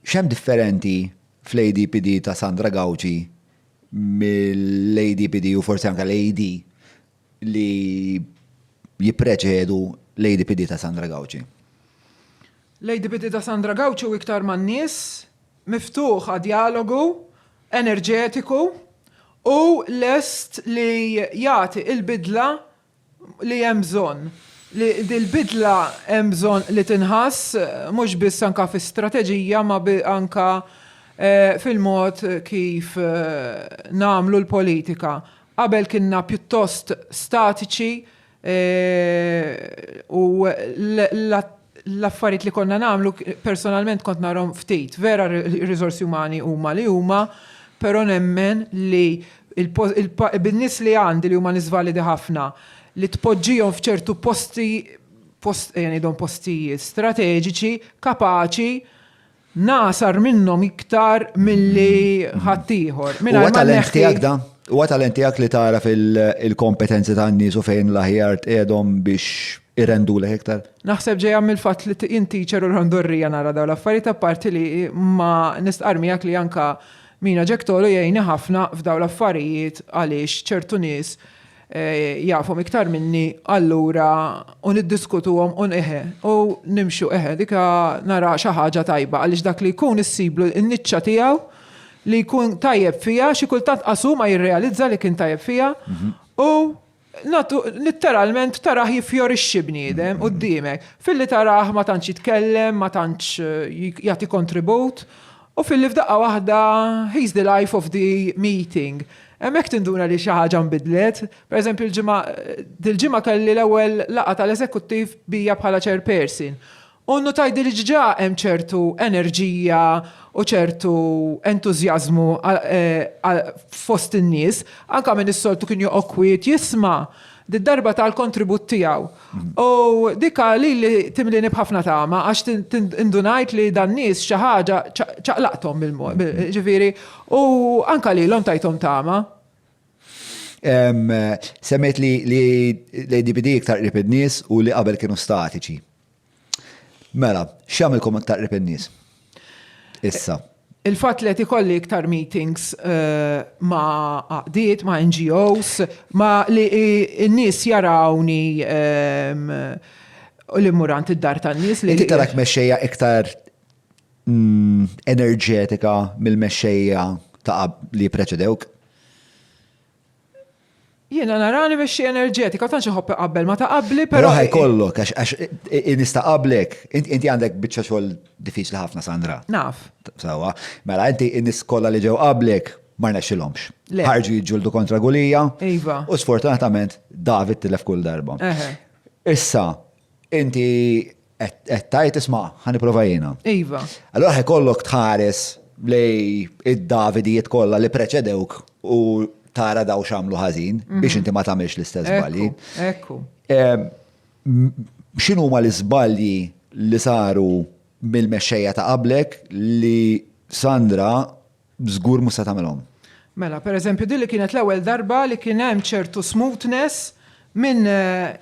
X'hemm differenti fl-ADPD ta' Sandra Gauci mill-ADPD u forsi anke l-AD li jippreċedu l-ADPD ta' Sandra Gauci? L-ADPD ta' Sandra Gauci hu iktar man-nies, miftuħ għad-djalogu, enerġetiku u lest li jagħti l-bidla li hemm bżonn. Li dil-bidla hemm bżonn li tinħass mhux biss anke fi strateġija ma anke fil-mod kif nagħmlu l-politika. Qabel kienna pjuttost statiċi u l-affarijiet li konna nagħmlu personalment kont narhom ftit. Vera r-riżorsi umani huma li huma, però nemmen li bin-nies li għandi li huma nies validi ħafna li tpoġġihom f'ċertu posti, post, ejja ngħidhom postijiet strateġiċi, kapaċi, Nagħsar minnhom iktar milli ħaddieħor. Huwa talent tiegħek da? Huwa talent tiegħek li tara fil-kompetenzi tan-nies u fejn l-aħjar tqiegħdhom biex irendulek iktar? Naħseb ġejja mill-fatt li jien teacher u l-ħandurrija nara dawn l-affarijiet apparti li ma nistqarr miegħek li anke Mina Jack Tolu jgħinni ħafna f'dawn l-affarijiet għaliex ċertu nies jafhom iktar minni allura u niddiskutuhom u eħe u nimxu eħe dika nara xi ħaġa tajba għaliex dak li jkun issiblu n-niċċa tiegħu li jkun tajjeb fiha xi kultant qasu ma jirrealizza li kien tajjeb fiha mhm. u Litteralment taraħ jiffjorixxi bniedem mhm. quddiemek. Filli taraħ ma tantx jitkellem, ma tantx eh, jagħti kontribut, U filli f'daqqa waħda he's the life of the meeting. Hemmhekk tinduna li xi ħaġa nbidlet. Pereżempju l-ġimgħa dil-ġimgħa kelli l-ewwel laqgħa tal-eżekuttiv bija bħala chairperson. U nnutajt li diġà hemm ċertu enerġija u ċertu entużjażmu fost in-nies. Anke min is-soltu kien joqgħod kwiet jisma', did-darba ta l-kontribut tiegħu. U dik għal lili timlieni b'ħafna tama għax indunajt li dan-nies xi ħaġa ċaqlaqthom mill-mod, ġifieri, u anke lilhom tajthom tama. Semmejt li l-ADPD iktar qrib in-nies u li qabel kienu statiċi. Mela, x'jagħmilkom aktar qrib in-nies? Issa. Il-fatt li qed ikolli iktar meetings eh, ma' għaqdiet, ma' NGOs, ma' li n-nies jarawni ehm, u li murant id-dar tan-nies li. Inti tarak mexxejja iktar mm, enerġetika mill-mexxejja ta' qab- li preċedewk? Jiena narani mexxi enerġetika, tantx iħobb iqabbel ma ta' qabli, però. Però ħajkollok, għax għax i- i- nista' qablek. Int- Inti għandek biċċa xogħol diffiċli ħafna, Sandra. Naf. Sawa. Mela, inti n-nies kollha li ġew qablek ma rnexxilhomx. Le. Ħarġu jiġġieldu kontra Gulija. Iva. U sfortunatament David tilef kull darba. Eħe. Issa, inti Qed tajt isma' ħa nipprova jiena. Iva. Allura ħekollok tħares lej id-Davidijiet kollha li preċedewk u tara daw xamlu ħażin mhm. biex inti ma tagħmilx l-istess żbalji. Ekku. X'inhu ma l-iżbalji li saru mill-mexxejja ta' qablek li Sandra Żgur mhux se tagħmilhom. Mela, per eżempju, din li kienet l-ewwel darba li kien hemm ċertu smoothness minn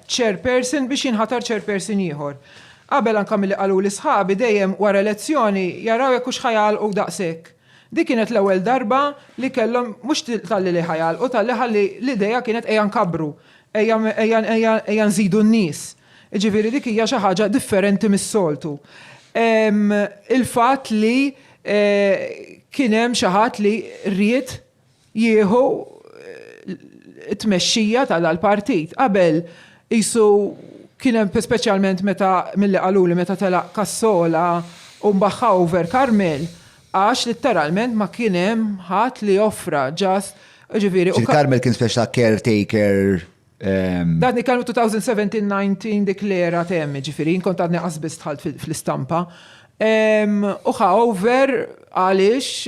chairperson biex jinħatar chairperson ieħor. Qabel anke milli qaluli sħabi dejjem wara elezzjoni jaraw jekk hux ħa jagħlqu daqshekk. Din kienet l-ewwel darba li kellhom mhux talli li ħa jagħlqu talli ħalli l-idea kienet ejja nkabbru, ejja nżidu n-nies. Jiġifieri dik hija xi ħaġa differenti mis-soltu. Il-fatt li Kien hemm xi ħadd li ried jieħu t-tmexxija tal-partit. Qabel qisu kien hemm speċjalment meta milli qaluli meta telaq Cassola u mbaħħa over Karmel għax litteralment ma kien hemm ħadd li offra ġast ġifieri u. Karmel kien speċi ta' caretaker. Dan li kellu 2017-19 dik l-era temm, ġifiri, jien kont għadni qasbis tħalt fl-istampa. U over għaliex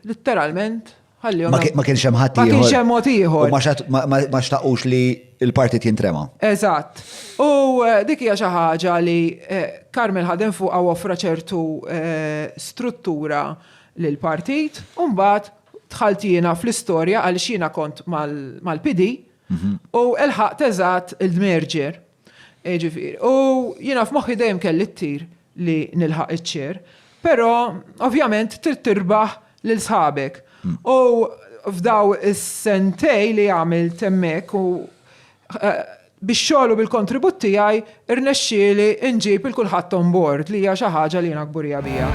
literalment ħallihom. Ma kienx hemm ħadd Ma kienx hemm mod ieħor. Ma xtaqux li l-partit jintrema. Eżatt. U eh, dik hija xi ħaġa li Karmel eh, ħadem fuq offra ċertu eh, struttura l-partit, un-bat dħalt jiena fl-istorja għaliex jiena kont mal-PD u lħaqt eżatt il-merger. Jiġifieri, u jiena f'moħħi dejjem kelli t-tir li nilħaq iċ-chair, però ovvjament trid tirbaħ lil sħabek. U f'dawn is-sentejn li għamilt hemmhekk u Bix-xogħol u bil-kontribut tiegħi rnexxieli nġib 'il kulħadd on board li hija xi ħaġa li jiena kburija biha.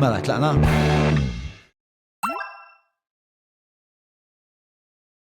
Mela tlaqna?